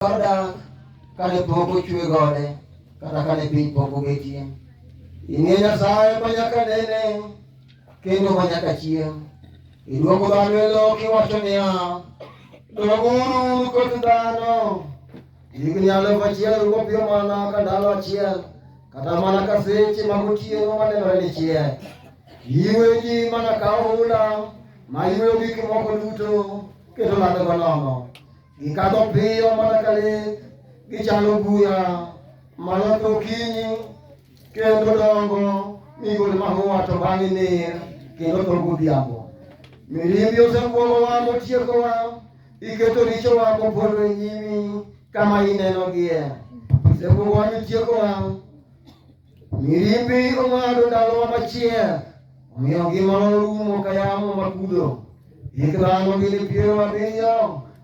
Oda kane pok ochwe gode kata kane piny pok obetie. Ing'e Nyasaye ma nyaka nene kendo ma nyaka chieng'. Iduogo dhano e lowo kiwacho niya, doguru koth dhano. Higni alufu achiel rugo piyo mana ka ndalo achiel, kata mana ka seche mag otieno manenore ni chiek. Iweji mana ka ohula ma iweyo gik moko duto kendo lando go nono. Gikadho piyo mana ka le, gichalo buya mana ka okinyi, kendo dongo migol mahua to bang'e ner kendo to godhiambo. Mirimbi osekuomowa motiekowa, iketo richowa kopodho e nyimi kama inenogie. Osekuomowa mitiekowa Mirimbi ong'ado ndalowa machiek, omiyo ngimawa orumo ka yamo makudho. Hik dhano gini piero abiriyo,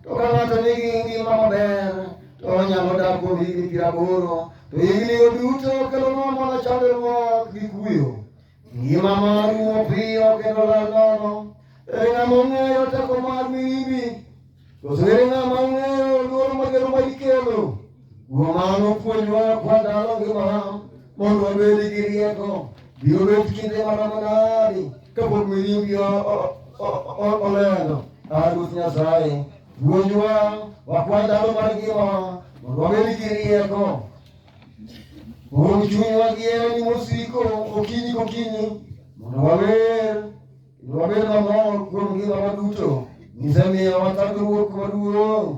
to ka ng'ato nigi ngima maber, to onyalo dak kuom higni piero aboro. To hignigo duto kelonwa mana chandruok gi kuyo. Ngima mar rumo piyo kendo lal nono. Ere ng'ama ong'eyo teko mar mirimbi? Koso ere ng'ama ong'eyo luoro magero ma ikelo? Kuom mano puonjwa kwa ndalo ngimawa mondo wabed gi rieko. Biro bet kinde maromo nadi kapok mirimbi o- o- o- o- olendo? Ah, Ruoth Nyasaye, puonjwa wakwa ndalo mar ngimawa mondo wabed gi rieko. Uru chunywa gi herani mosiko okinyi kokinyi mondo wawer kendo wabed mamor kuom ngimawa duto misemiyo wathagruok maduong'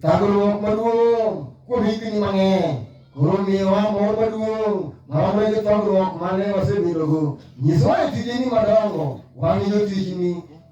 thagruok maduong' kuom higni mang'eny koro miyowa mor maduong' maromo gi thagruok mane wasebedogo nyisowa e tijeni madongo wan jotichni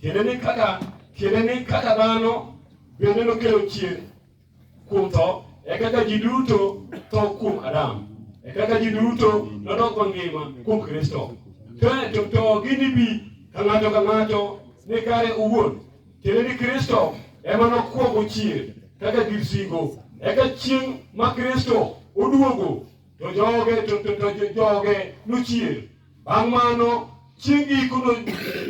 Kendo ni kaka kendo ni kaka dhano bende nokelo chier kuom tho, e kaka ji duto tho kuom Adam, e kaka ji duto nodok mangima kuom Kristo. To, to, to ginibi ka ng'ato ka ng'ato ni kare owuon, kendo ni Kristo ema nokwongo chier kaka gir singo, eka chieng' ma Kristo oduogo to joge to, to, to, to joge nochier Bang' mano chieng' giko no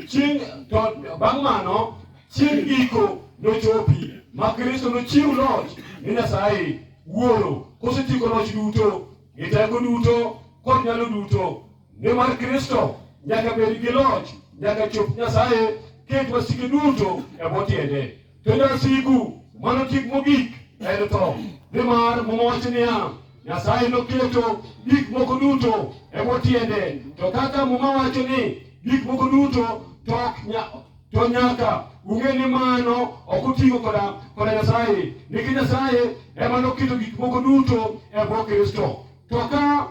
chieng' to bang' mano chieng' giko nochopi ma Kristo nochiw loch ni Nyasaye Wuoro kosetieko loch duto gi teko duto kod nyalo duto nimar Kristo nyaka bed gi loch nyaka chop Nyasaye ket wasike duto e bwo tiende. Kendo asigu mano tik mogik en tho, nimar Muma wacho niya, Nyasaye noketo gik moko duto e bwo tiende. To kaka Muma wacho ni gik moko duto to ok nya- to nyaka ung'e ni mano ok oting'o koda koda Nyasaye, nikech Nyasaye ema noketo gik moko duto e bwo Kristo. To ka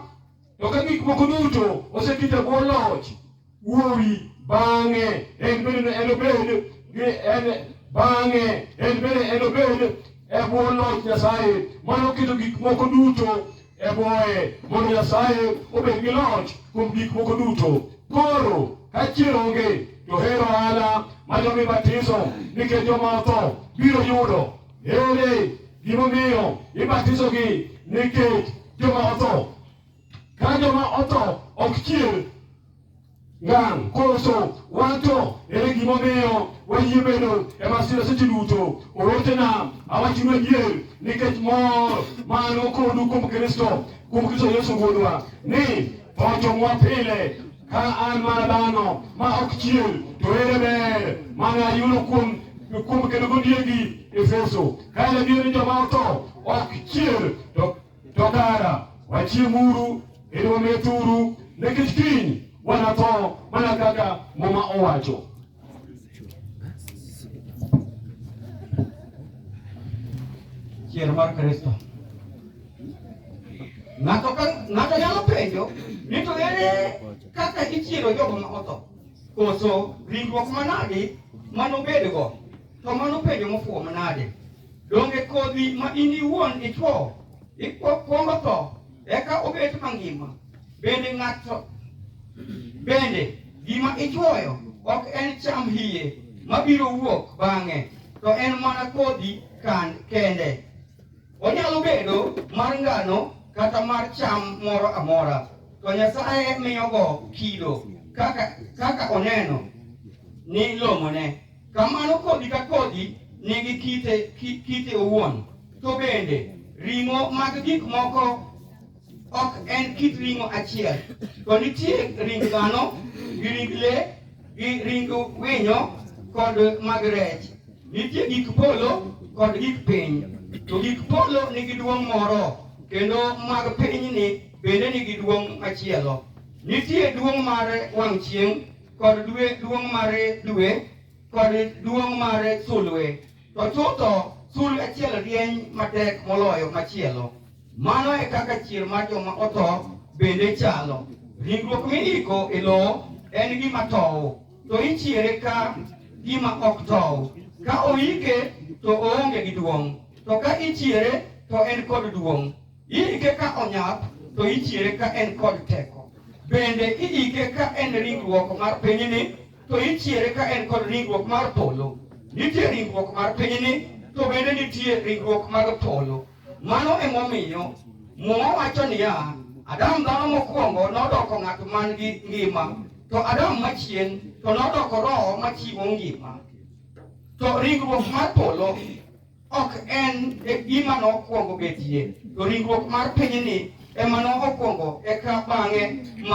To ka gik moko duto osekete bwo loch wuowi bang'e en bende enobed gi en bang'e en bende enobed e bwo loch Nyasaye mano keto gik moko duto e bwoye mondo Nyasaye obed gi loch kuom gik moko duto. Koro ka chier onge to hero ohala ma jomi batiso nikech joma otho biro yudo Ere gimomiyo ibatisogi nikech joma otho? Ka joma otho ok chier ngang' koso wan to ere gimomiyo wayie bedo e masira seche duto? Owetena, awachnu adier nikech mor man kodu kuom Kristo, kuom Kristo Yesu Wuodwa, ni tho jomwa pile Ka an mana dhano ma ok chier, to ere ber mane ayudo kuom kuom kedo gondiegi Efeso? Ka en adier ni joma otho ok chier, to to kara wachiemuru kendo wamethuru, nikech kiny wanatho mana kaka Muma owacho. Chier mar Kristo. Ng'ato ka ng'ato nyalo penjo ni to ere kaka ichiero jogo ma otho? Koso ringruok manadi ma nobedgo? To mano penjo mofuwo manade? Donge kodhi ma in iwuon ichwo ikwongo tho eka obet mangima? Bende ng'ato bende gima ichuoyo ok en cham hiye mabiro wuok bang'e, to en mana kodhi kan kende. Onyalo bedo mar ngano kata mar cham moro amora, to Nyasaye miyogo kido kaka, kaka oneno ni long'one. Kamano kodhi ka kodhi nigi kite, kite owuon. To bende ring'o mag gik moko ok en kit ring'o achiel, to nitie ring dhano gi ring le gi ring winyo kod mag rech. Nitie gik polo kod gik piny, to gik polo nigi duong' moro, kendo mag pinyni bende nigi duong' machielo. Nitie duong' mar wang' chieng' kod dwe, duong' mar dwe kod duong' mar sulwe, to chutho sulwe achiel rieny matek moloyo machielo. Mano e kaka chier mar joma otho bende chalo. Ringruok miiko e lowo en gima tow, to ichiere ka gima ok tow. Ka oike to oonge gi duong', to ka ichiere to en kod duong'. Iike ka onyap, to ichiere ka en kod teko. Bende iike ka en ringruok mar pinyni, to ichiere ka en kod ringruok mar polo. Nitie ringruok mar pinyni, to bende nitie ringruok mar polo. Mano emomiyo Muma wacho niya, Adam dhano mokwongo nodoko ng'at man gi ngima, to Adam machien to nodoko roho machiwo ngima. To ringruok mar polo ok en e gima nokwongo betie, to ringruok mar pinyni ema nokwongo eka bang'e mar